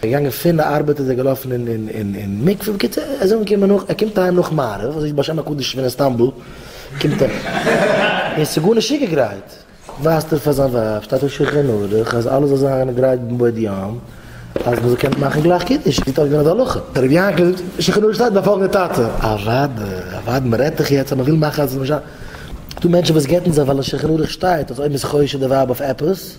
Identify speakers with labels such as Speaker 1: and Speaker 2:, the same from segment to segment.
Speaker 1: ער איז געגאנגען פין די ארבעט איז ער געלאפען אין אין אין אין מקווה בקיצור ער איז אנגעקומען נאך ער קומט אהיים נאך מעריב און זעהט בשם הקדוש מן איסטאנבול קומט ער און ס'איז גארנישט צוגע גרייט ווייזט ער פאר זיין ווייב שטייט אויף שלחן ערוך אז אלעס זאל זיין גרייט בעוד יום אז מ'זאל קענען מאכען גלייך קידוש זי טאר געווען אז די הלכה. ר' יענקל זאגט שלחן ערוך שטייט ביי פאלגענדע טאטע אוואדע אוואדע מ'רעדט דאך יעצט אז מ'וויל מאכען אז ס'זאל נישט זיין דא מענטשען וואס גט'ן זיך ווייל אין שלחן ערוך שטייט אז אויב מ'איז חושד די ווייב אויף עפעס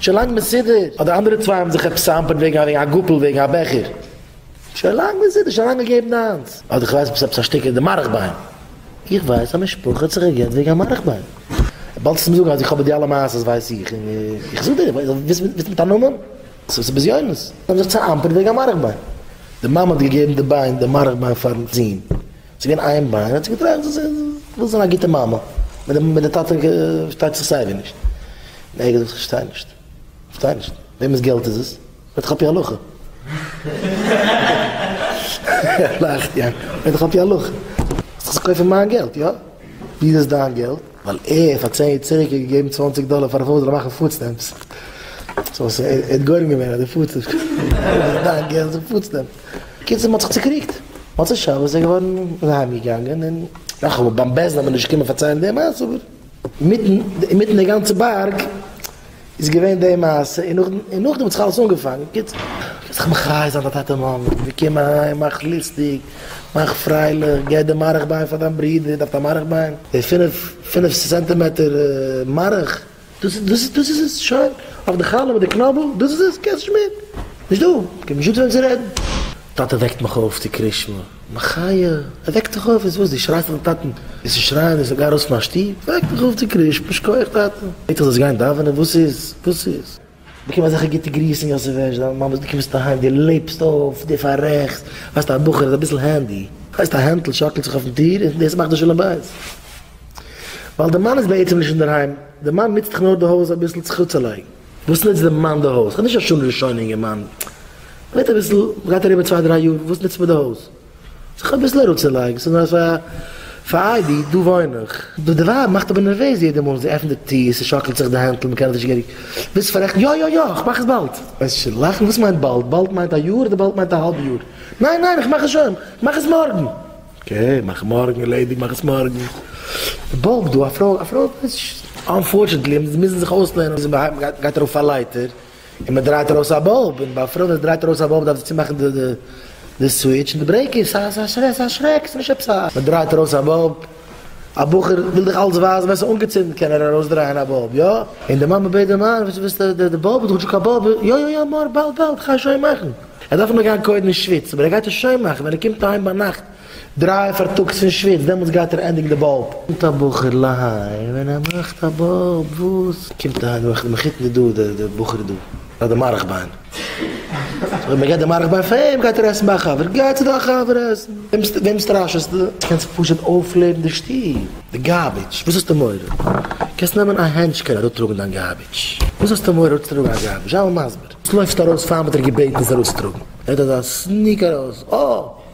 Speaker 1: שוין לאנג מסודר, אט די אנדערע צוויי האבן זיך עפעס צעהאמפערט וועגן א וועגן א גאפל וועגן א בעכער. שוין לאנג מסודר, שוין לאנג געגעבן דיינס. אדער כ'ווייס נישט, עפעס א שטיקל אין די מארך ביין. איך ווייס א משפחה האט זיך גע'גט וועגן א מארך ביין. ווילסט עס מיר זאגן אז איך האב בה די אלע מעשות ווייס איך און איך זאג דיר, ווילסט מיט א נאמען? ס'איז עס בזיונות. זיי האבן זיך צעהאמפערט וועגן א מארך ביין. די מאמע האט געגעבן די ביין, די מארך ביין פארן זוהן. ס'איז געווען איין ביין, האט זי געטראכט זי וויל זיין א גוטע מאמע, מיט די טאטע פארשטייט זיך סייווי נישט. און ער האט געזאגט כ'פארשטיי נישט, כ'פארשטיי נישט, וועמענס געלט איז עס? ווער האט עס עפי הלכה? לאכט יענקל, ווער האט דאך עפי הלכה? זאלסט דאך קויפן מיין געלט, יא? ווי איז עס דיין געלט? ווייל ער פאר צען יעצעריגע האט געגעבן צוואנציג דאלער פאר א פרוי זאל ער מאכן פוד סטעמפס. סאו ער האט גורם געווען אז די פוד סטעמפס. ווי איז עס דיין געלט? זאגט פוד סטעמפס. בקיצור מ'האט זיך צוקריגט, מוצאי שבת איז ער געווארן איז ער אהיים געגאנגען און רח ל ביים בעסטן וועט מען נישט קומען פארציילן די מעשה אבער אינמיטן אינמיטן די גאנצע בארג איז געווען די מעשה און נאכדעם און נאכדעם האט זיך אלעס אנגעפאנגען, בקיצור מ'דארף זיך מחיה זיין די טאטע מאמע, מיר קומען אהיים מאך לוסטיג מאך פרייליך גיי די מארעך ביין פאר דיין ברודער דארף א מארעך ביין די פינף פינף סענטימעטער מארעך. דאס דאס דאס איז עס? שוין אויף די חלה מיט די קנאבל? דאס איז עס? קענסט נישט מער? נישט דא! כ'האב נישט דא צו וועם צו רעדן! טאטע וועקט מיך אויף צו קרישמע. מחיה! ער וועקט דיך אויף? איז וואס? דו שרייסט אויפן טאטן? וועסט נישט שרייען וועסט גיין ארויס פון מיין שטוב? וועקט מיך אויף צו קרישמע! שקויעך טאטע! יעצט זאלסט גיין דאווענען? וואס איז? וואס איז? באקום אזעלכע גוטע גריסן יוסף הערש דיין מאמע דו קומסט אהיים דו לעבסט אויף דו פאררעכסט ווייסט א בחור איז אביסל הענדי ווייסט א הענטל שאקלט זיך אויפן טיר און דאס מאכט די שלום בית ווייל די מאן איז בעצם נישט אינדערהיים די מאן נוצט דאך נאר די הויז אביסל צו צולייגן וואס נוצט די מאן די הויז כ'בין נישט א שואל ראשון אינגערמאן מ'רעדט אביסל מ'גייט אריבער צוויי דריי יאר וואס נוצט מען די הויז. זיך אביסל אראפצולייגן, ס'איז נאר פאר פאר אייבי, דא וואוין איך. די ווייב מאכט אבער נערוועז יעדע מאל זי עפנט די טיר, ס'שאקלט זיך די הענטל, מ'קען עס נישט געהעריג וויסן פאררעכטן, יא יא יא, כ'מאך עס באלד. וועסט שוין לאכן, וואס מיינט באלד? באלד מיינט א יאר אדער באלד מיינט א האלב יאר? ניין ניין, איך מאך עס שוין, כ'מאך עס מארגן. אקעי, מאך מארגן, ערלעדיגט, מאך עס מארגן. באלד, דא א פרוי, א פרוי ווייסט נישט. אנפארטשענטלי, מוזן זיך אויסלערנען וויאזוי מ'גייט ארויף א לייטער. און מען דרייט ארויס א באלב, און ביי א פרוי ווען זי דרייט ארויס א באלב דארף זי צומאכן די סוויטש און די ברעיקער, סאיז א שרעק, סאיז א שרעק, סאיז נישט עפעס א. מען דרייט ארויס א באלב, א בחור וויל דיך אלץ ווייזן ווען סאיז אנגעצינדן קען ער ארויס דרייען א באלב, יא? און די מאמע בעט די מאן, וויאזוי ווילסטו די באלב, איז דאך נישטא קיין באלב, יא יא יא מור, באלד באלד, כ'גיי שוין מאכן, ער דארף נאר גיין קודם אין שוויץ, אבער ער גייט עס שוין מאכן, ווען ער קומט אהיים ביינאכט, דרײַ פארטאגס פון שוויץ, דעמאלטס גייט ער ענדיגן די באלב. קומט א בחור להיים און ער מאכט א באלב, וואס? קומט אהיים און מאכט מחותן איז דא די בחור דא ביי די מאריך ביין, אויב מען געבט די מאריך ביין פאר אים גייט ער עסן ביי א חבר, גיי צו דיין חבר עסן, וועם סטראשעסטו? קענסט פשוט אויפלעבן די שטוב. די גארביטש, וואס האסטו מורא? קענסט נעמען א הענטשקעל אראפטראגן דיין גארביטש, וואס האסטו מורא אראפצוטראגן א גארביטש, זיי מיר מסביר. לויפט ארויס פארן וועט ער געבעטן עס ארויסצוטראגן, ער האט אזא סניק ארויס, אה!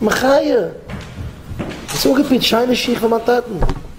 Speaker 1: מחיה! האסט אנגעפירט שיינע שיך פאר מיין טאטן.